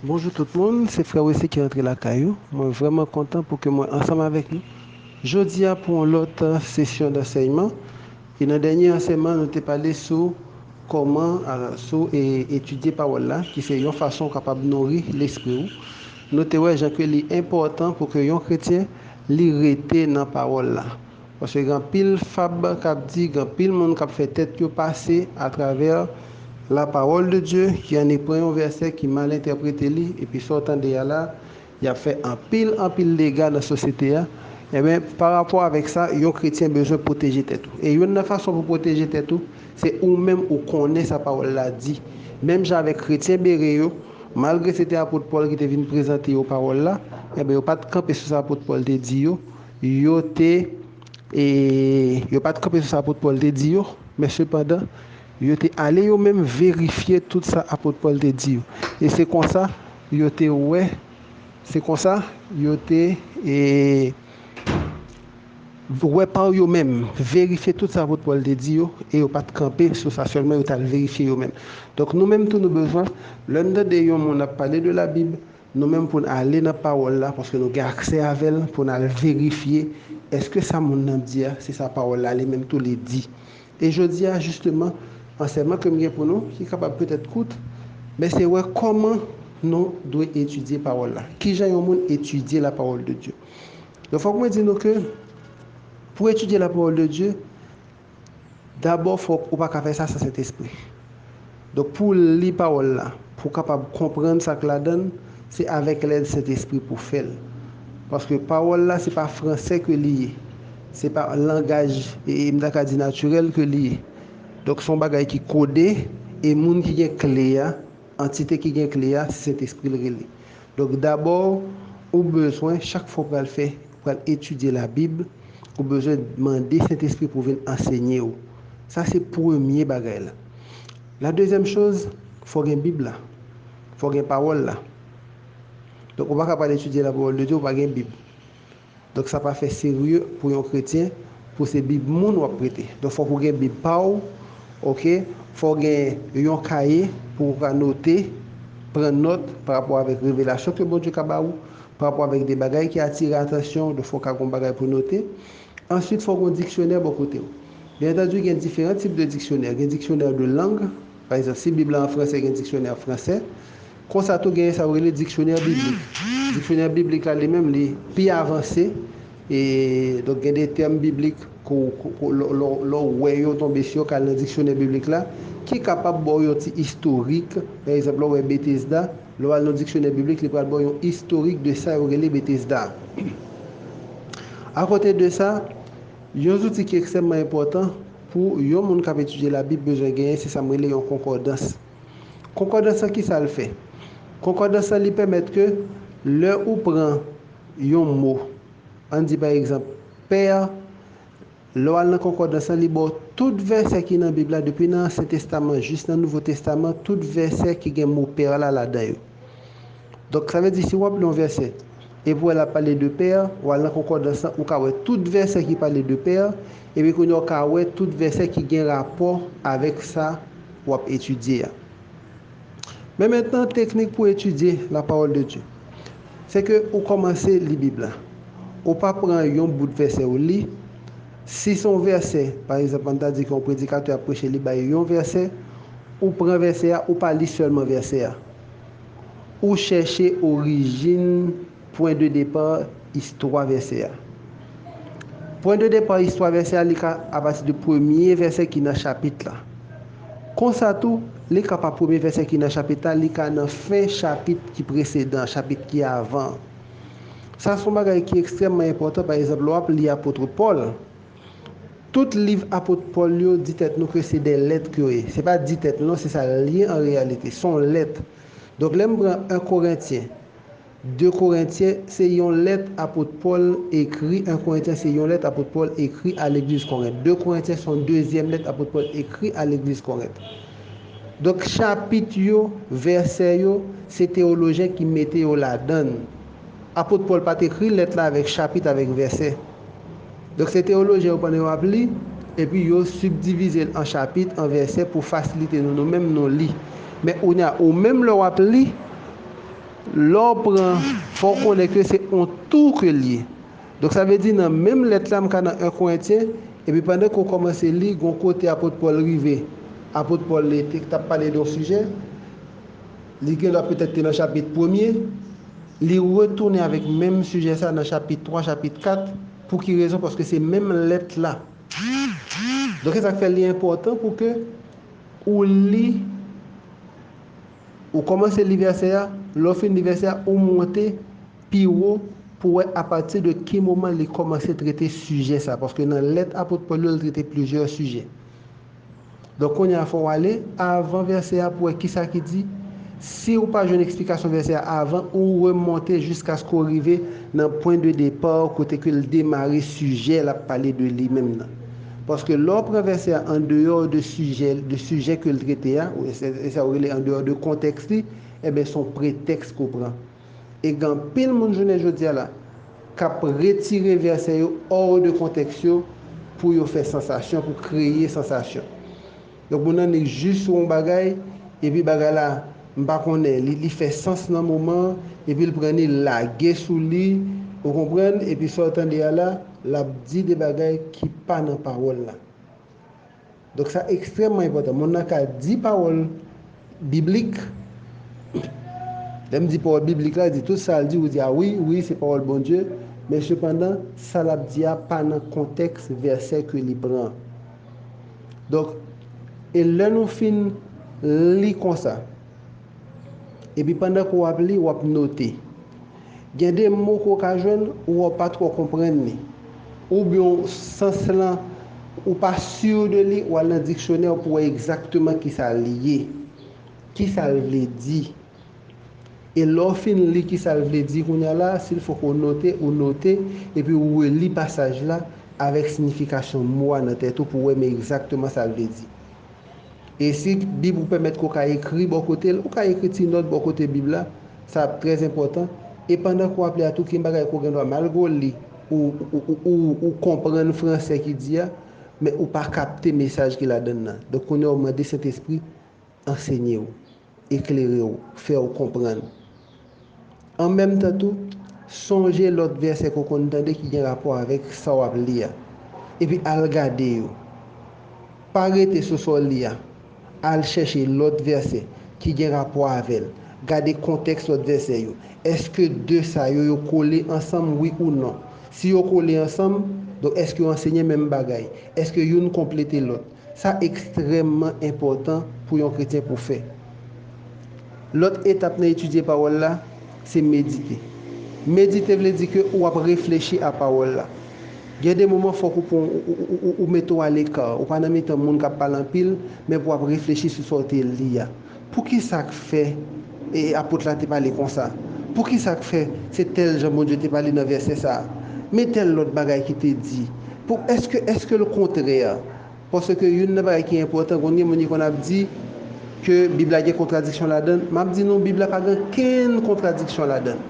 Bonjou tout moun, se frè Wesly ki rantre lakay ou. Mwen vrèman kontan pou ke mwen ansanm avèk nou jodi a pou yon lòt sesyon dansèyman. E nan dènye ansèyman nou te pale sou kòman, sou etidye pawòl la ki se yon fason ou kapab nouri lespri ou. Nou te wè jan ke li enpòtan pou ke yon kretyen li rete nan pawòl la. Paske gen anpil fab k ap di, gen anpil moun k ap fè tèt yo pase atravè lapawòl de Dye, ki annik pran yon vèsè ki mal entèprete li, epi sa w tande a la, y ap fè anpil, anpil dega nan sosyete a. Enben, parapò avèk sa, yon kretyen bezwen pwoteje tèt ou. E youn nan fason pou w pwoteje tèt ou, se ou menm ou konnen sa pawòl la di. Menm jan avèk kretyen Bere yo, malgre se te apot Pòl ki te vin prezante yo pawòl la, enben yo pa t kanpe sou sa apot Pòl te di yo, Yo te, e, yo pa t kanpe sou sa apot Pòl te di yo, men sepandan, yo te ale yo menm verifye tout sa apot Pòl te di yo, e se konsa, yo te wè, se konsa, yo te, e, wè pa yo menm, verifye tout sa apot Pòl te di yo, e yo pa t kanpe sou sa sèlman, yo t al verifye yo menm. Donk, nou menm tou nou bezwen, lè n tande yon moun ap pale de Labib, Nou menm pou n ale nan Pawòl la, paske nou gen aksè avè l, pou n al verifye èske sa moun nan di a se sa Pawòl la li menm tou li di. E jodi a, jisteman, ansèyman ke m gen pou nou, ki kapab petèt kout, men se wè kòman nou dwe etidye Pawòl la. Ki jan yon moun etidye la Parole de Dieu? Donk fòk mwen di nou ke pou etidye la Parole de Dieu, Dabò fòk ou pa ka fè sa san Sentespri. Donk pou w li pawòl la, pou w kapab konprann sa k ladan l, se avèk lèd Sentespri pou w fè l. Paske pawòl la se pa fransè ke li ye, se pa langaj m ta ka di natirèl ke li ye. Donk se yon bagay ki kode e moun ki gen kle a, Antite ki gen kle a se Sentespri l rele. Donk dabò ou bezwen chak fwa ou pral fè, ou pral etidye labib, ou bezwen mande Sentespri pou vin ansenye ou. Sa se premye bagay la. La dezyèm choz, fò gen bib la. Fò gen pawòl la. Donk ou pa ka pral etidye lapawòl de Dye ou pa gen bib. Donk sa pa fè serye pou yon kretyen pou se bib moun wap prete. Donk fòk ou gen bib pa w ok, fò w gen yon kaye pou ou ka note, pran nòt pa rapò avèk revelasyon ke Bondye ka ba ou, pa rapò avèk de bagay ki atire atansyon w, donk fò w ka gen yon bagay pou w note. Answit fò w gen yon diksyonè bò kote w. Byen antandi gen diferan tip de diksyonè, gen diksyonè de lang, pa egzanp si bib la an fransè gen diksyonè fransè, Konsa tou genyen sa yo rele diksyonè biblik. Diksyonè biblik la li menm li pi avanse e donk gen de tèm biblik ke w lè w wè yo tonbe si yo ka al nan diksyonè biblik la ki kapab ba w yon ti istorik. Pa egzanp lè w wè Betesda, lè w al nan diksyonè biblik li pral ba w yon istorik de sa yo rele Betesda a. Akote de sa, yon zouti ki ekstrèmman enpòtan pou yon moun k ap etidye Labib bezwen genyen se sa m rele yon konkòdans. Konkòdans lan kisa l fè? Konkòdans lan li pèmèt ke lè ou pran yon mo, ann di pa egzanp pè, lè w al nan konkòdans lan li ba w tout vèsè ki nan bib la depi nan ansyen testaman jis nan nouvo testaman tout vèsè ki gen mo pè la ladan yo. Donk sa vle di si ou ap li yon vèsè epi ou wè lap pale de pè, ou al nan konkòdans lan ou ka wè tout vèsè ki pale de pè epi kounya ou ka wè tout vèsè ki gen rapò avèk sa ou ap etidye a. Men mentnan teknik pou etidye la pawòl de Dye. Se ke ou kòmanse li bib la. Ou pa pran yon bout vèsè ou li. Si se yon vèsè, pa egzanp, an n ta di ke yon predikatè ap preche li bay yon vèsè, ou pran vèsè a, ou pa li sèlman vèsè a. Ou chèche orijin, pwen de depa, istwa vèsè a. Pwen de depa istwa vèsè a li ka apati de premye vèsè ki nan chapit la. Konsa tou, li ka pa premye vèsè ki nan chapit la, li ka nan fen chapit ki presedan, chapit ki avan an. Sa se yon bagay ki ekstrèmman enpòtan, pa egzanp, lè w ap li Apotre Pòl, tout liv Apot Pòl yo, di tèt nou ke se de lèt ke yo ye. Se pa di tèt non, se sa l ye an reyalite, se yon lèt. Donk lè m pran 1 Korentyen, 2 Korentyen, se yon lèt Apot Pòl ekri, 1 Korentyen se yon lèt Apot Pòl ekri a legliz Korent, 2 Korentyen se yon dezyèm lèt Apot Pòl ekri a legliz Korent. Donk chapit yo, vèsè yo, se teolojen ki mete yo ladan l. Apot Pòl pa t ekri lèt la avèk chapit avèk vèsè. Donk se teolojen yo pandan yo ap li, epi yo sibdivize l an chapit, an vèsè pou fasilite nou nou menm nou li. Men kounye a, ou menm lè w ap li, lè w pran, fò w konnen ke se on tou ke l ye. Donk sa vle di nan menm lèt la m ka nan 1 Korentyen, epi pandan ke w kòmanse li, gen yon kote Apot Pòl rive. Apot Pòl li te t ap pale de yon sijè, li gendwa petèt te nan chapit premye, li retounen avèk menm sijè sa nan chapit 3, chapit 4. Pou ki rezon? Paske se menm lèt la. Donk se sa k fè li enpòtan pou ke ou li. Ou kòmanse li vèsè a, lè w fin li vèsè a, ou monte pi wo pou w wè apati de ki moman li kòmanse trete sijè sa a. Paske nan lèt apot Pòl yo, li trete plizyè sijè. Donk, kounye a fò w ale avan vèsè a pou w wè ki sa ki di. Si ou pa jwenn eksplikasyon vèsè a avan, ou remonte jiskaske ou rive nan pwen de depa w kote ke l demare sijè l ap pale de li menm nan. Paske lè w pran vèsè a an deyò de sijè de sijè ke l trete a, e sa yo rele an deyò de kontèks li, enben s on pretèks ke w pran. E gen anpil moun jounen jodi a la k ap retire vèsè yo hors de kontèks yo pou yo fè sansasyon, pou kreye sansasyon. Donk moun nan li jus sou yon bagay epi bagay la m pa konnen li li fè sans nan moman an epi l pran li l lage sou li ou konprann epi sa w tande a la l ap di de bagay ki pa nan pawòl la donk sa ekstrèmman enpòtan moun nan ka di pawòl Biblik. Lè m di pawòl biblik la, di tout sa l di, ou di a wi, wi, se pawòl Bondye, men sepandan, sa l ap di a pa nan kontèks vèsè ke li pran. Donk, e lè nou fin li konsa, epi pandan ke w ap li, w ap note. Gen de mo ke w ka jwenn ou wè w pa twò konprann li, oubyen w sans lan ou pa sûr de li, ou al nan diksyonè pou wè egzakteman kisa li ye, kisa l vle di. E lè w fin li kisa l vle di kounya la, si l fò ke w note, ou note, epi ou reli pasaj la avèk siyifikasyon mo a nan tèt ou pou wè men egzakteman sa l vle di. E si Bib ou pèmèt ke w ka ekri bò kote l, ou ka ekri ti nòt bò kote Bib la, sa ap trè enpòtan. E pandan ke w ap li a tou, gen bagay ke w gen dwa, malgre w li, ou konprann franse ki di a, men ou pa kapte mesaj ki ladan l lan. Donk kounye a ou mande Sentespri ansenye w. eklere w, fè w konprann. An menm tan tou, sonje lòt vèsè ke w konn tande ki gen rapò avèk sa w ap li a, epi al gade yo. Pa rete sou sa w li a, al chèche lòt vèsè ki gen rapò avè l, gade kontèks lòt vèsè yo. Èske de sa yo, yo kole ansanm, wi ou non? Si yo kole ansanm, donk èske yo ansenye menm bagay? Èske youn konplete lòt? Sa ekstrèmman enpòtan pou yon kretyen pou fè. Lòt etap nan etidye pawòl la, se medite. Medite vle di ke ou ap reflechi a pawòl la. Gen de moman fòk ou pran ou mete ou aleka, ou pa nan mitan moun kap pale anpil, men pou ap reflechi sou sa ou te li a. Poukisa k fè apot la te pale konsa? Poukisa k fè se tèl jan Bondye te pale nan vèsè sa a? Men tèl lòt bagay ki te di. Pou èske èske l kontrè? Paske youn nan bagay ki enpòtan, konn gen moun ki konn ap di ke Bib la gen kontradiksyon ladan l. M ap di nou Bib la pa gen okenn kontradiksyon ladan l.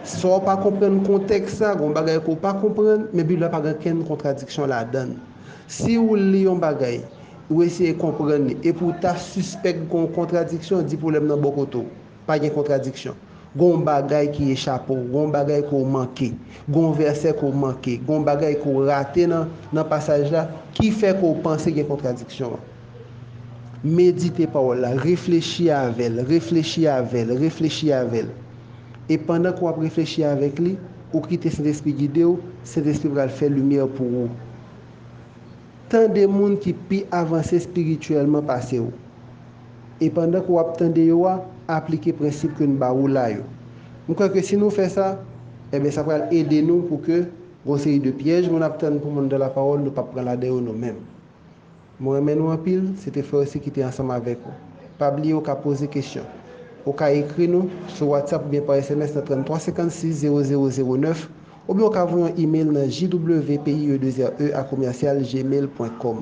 Sa w pa konprann kontèks la, gen yon bagay ke w pa konprann, men Bib la pa gen okenn kontradiksyon ladan l. Si ou li yon bagay, ou eseye konprann li, epi ou ta sispèk gen yon kontradiksyon, di pwoblèm nan bò kote w. Pa gen kontradiksyon. Gen yon bagay ki echape w, gen yon bagay ke w manke, gen yon vèsè ke w manke, gen yon bagay ke w rate nan nan pasaj la, ki fè ke w panse gen kontradiksyon an. Medite pawòl la, reflechi avè l, reflechi avè l, reflechi avè l. E pandan ke w ap reflechi avèk li, ou kite Sentespri gide w, Sentespri pral fè limyè pou ou. Tande moun ki pi avanse espirityèlman pase w. E pandan ke w ap tande yo a, aplike prensip ke n ba ou la yo. M kwè ke si nou fè sa, enben sa pral ede nou pou ke gon seri de pyèj moun ap tann pou moun nan lapawòl, nou p ap pran ladan yo nou menm. Mwen renmen nou anpil, se te Frercy ki te ansanm avèk ou. Pa bliye ou ka poze kesyon. Ou ka ekri nou sou WhatsApp oubyen pa sms nan 33 56 00 09, oubyen ou ka voye yon email nan jwpie2re@gmail.com.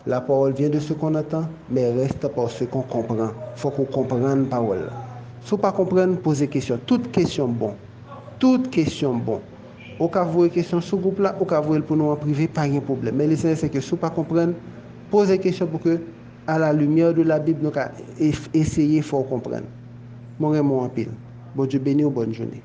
La parole vient de ce qu'on entend, mais reste par ce qu'on comprend. Fòk ou konprann pawòl la. Si w pa konprann, poze kesyon. Tout kesyon bon. Tout kesyon bon. Ou ka voye kesyon sou gwoup la, ou ka voye l pou nou an prive, pa gen pwoblèm. Men lesansyèl se ke si w pa konprann, poze kesyon pou ke a la lumière de la Bible nou ka eseye fè w konprann. Mwen renmen w anpil. Bondye beni w, bòn jounen.